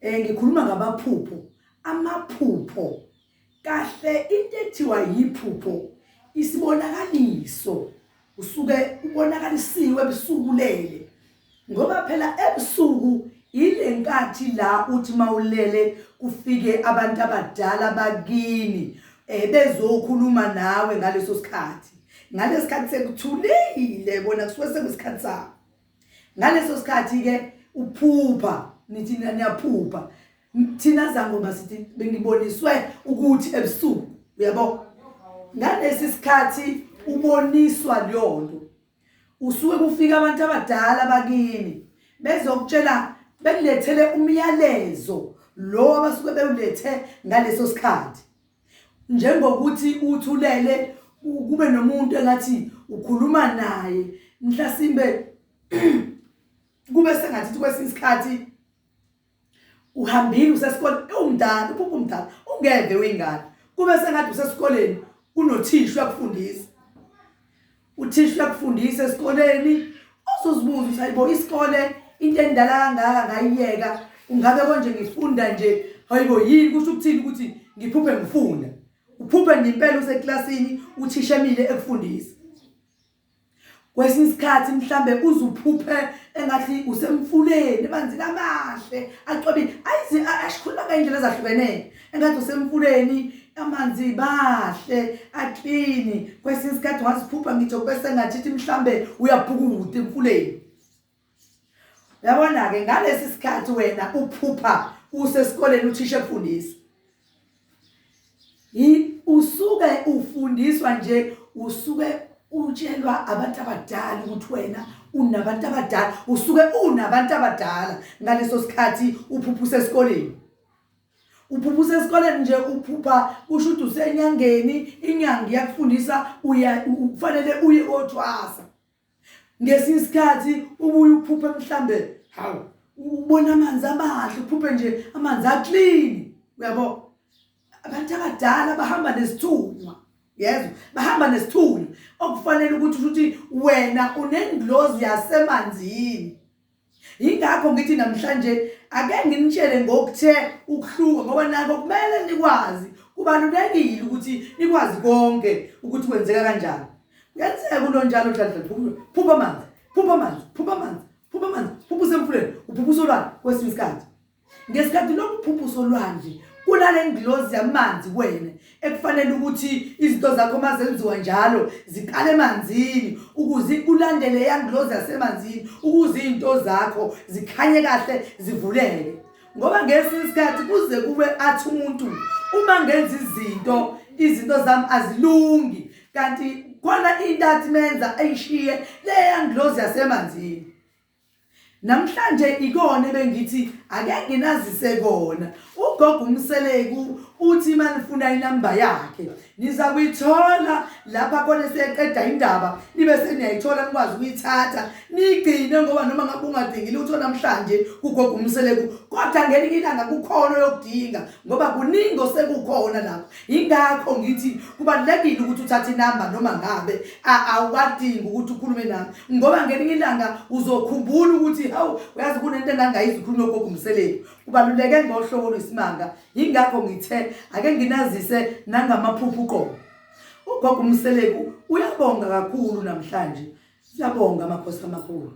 Eh ngikhuluma ngabaphupho, amaphupho. Kahle into ethiwa yiphupho isibonakaliso usuke ubonakalisiwe ebusuku lele. Ngoba phela ebusuku ile nkathi la uthi mawulele kufike abantu abadala bakini eh bezokhuluma nawe ngaleso sikhathi. Ngalesikhathi sekuthulile bona kusuke sekusikhathi sakho. ngaleso sikhathi ke uphupha nithi niyaphupha thina zangoma sithi bengiboniswe ukuthi ebusuku uyabo ngalesi sikhathi uboniswa leyonto usuke kufika abantu abadala bakini bezokutshela bekulethele umyalezo lo abasuke bewulethe ngaleso sikhathi Njengokuthi uthi ulele ku- kube nomuntu engathi ukhuluma naye mhlasimbe kube sengathi ukuthi kwesinye isikhathi uhambile usesikole ewumdala uphupha umdala ungeve wengane kube sengathi usesikoleni kunothisha uyakufundisa uthisha uyakufundisa esikoleni uzozibuza ukuthi hayibo isikole into endala kangaka ngayiyeka ungabe konje ngifunda nje hayibo yini kusho ukuthini ukuthi ngiphuphe ngifunda uphuphe nje impela useklasini uthisha emile ekufundisa kwesinye isikhathi mhlambe uzuphuphe engathi usemfuleni emanzini amahle acobile ayize ashikhuluma ngey'ndlela ezahlukenele engathi usemfuleni amanzi bahle aklini kwesinye isikhathi ungaziphupha ngitsho kube sengathi ithi mhlambe uyabhukuda emfuleni yabona-ke ngalesi sikhathi wena uphupha usesikoleni uthisha ekufundisa usuke ufundiswa nje usuke utshelwa abantu abadala ukuthi wena unabantu abadala usuke unabantu abadala ngaleso sikhathi uphuphusa esikoleni uphupha usesikoleni nje uphupha kusho ukuthi usenyangeni inyanga iyakufundisa kufanele uye othwasa ngesinye isikhathi ubuye uphuphe mhlambe hawu ubona amanzi amahle uphuphe nje amanzi aclean uyabo abantu abadala bahamba nesithunywa yezwa bahamba nesithunywa okufanele ukuthi ukuthi wena unengilozi yasemanzini Yingakho ngithi namhlanje ake nginitshele ngokuthe ukuhluka ngoba nako kumele nikwazi kubalulekile ukuthi nikwazi konke ukuthi kwenzeka kanjani kuyenzeka kulo njalo dladla phupha amanzi phupha amanzi phupha amanzi phupha amanzi phupha usemfuleni uphupha usolwana kwesinye isikhathi Ngesikhathi lokhu phupho solwandle kunale ngilozi yamanzi kuwena ekufanele ukuthi izinto zakho uma zenziwa njalo ziqale emanzini ukuze ulandele yangilozi yasemanzini ukuze izinto zakho zikhanye kahle zivuleke ngoba ngesinye isikhathi kuze kube athi umuntu uma ngenza izinto izinto zami azilungi kanti khona into athi menza ayishiye leyangilozi yasemanzini Namhlanje ikona ebengithi ake nginazise kona. Ugogo uMseleku uthi manifuna inamba yakhe niza kuyithola lapha kona seqeda indaba nibe seniyayithola nikwazi ukuyithatha nigcine ngoba noma ngabe ungadingi lutho namhlanje kugogo uMseleku kodwa ngelinye ilanga kukhona oyokudinga ngoba kuningi osekukhona lapho Yingakho ngithi kubalulekile ukuthi uthathe inamba noma ngabe awuwadingi ukuthi ukhulume nami ngoba ngelinye ilanga uzokhumbula ukuthi hawu uyazi kunento engangayizi ukhulume gogo umseleku kubaluleke ngohlobo lwesimanga yingakho ngithe ake nginazise nangamaphupho uqobo ugogo umseleku uyabonga kakhulu namhlanje siyabonga amakhosi amakhulu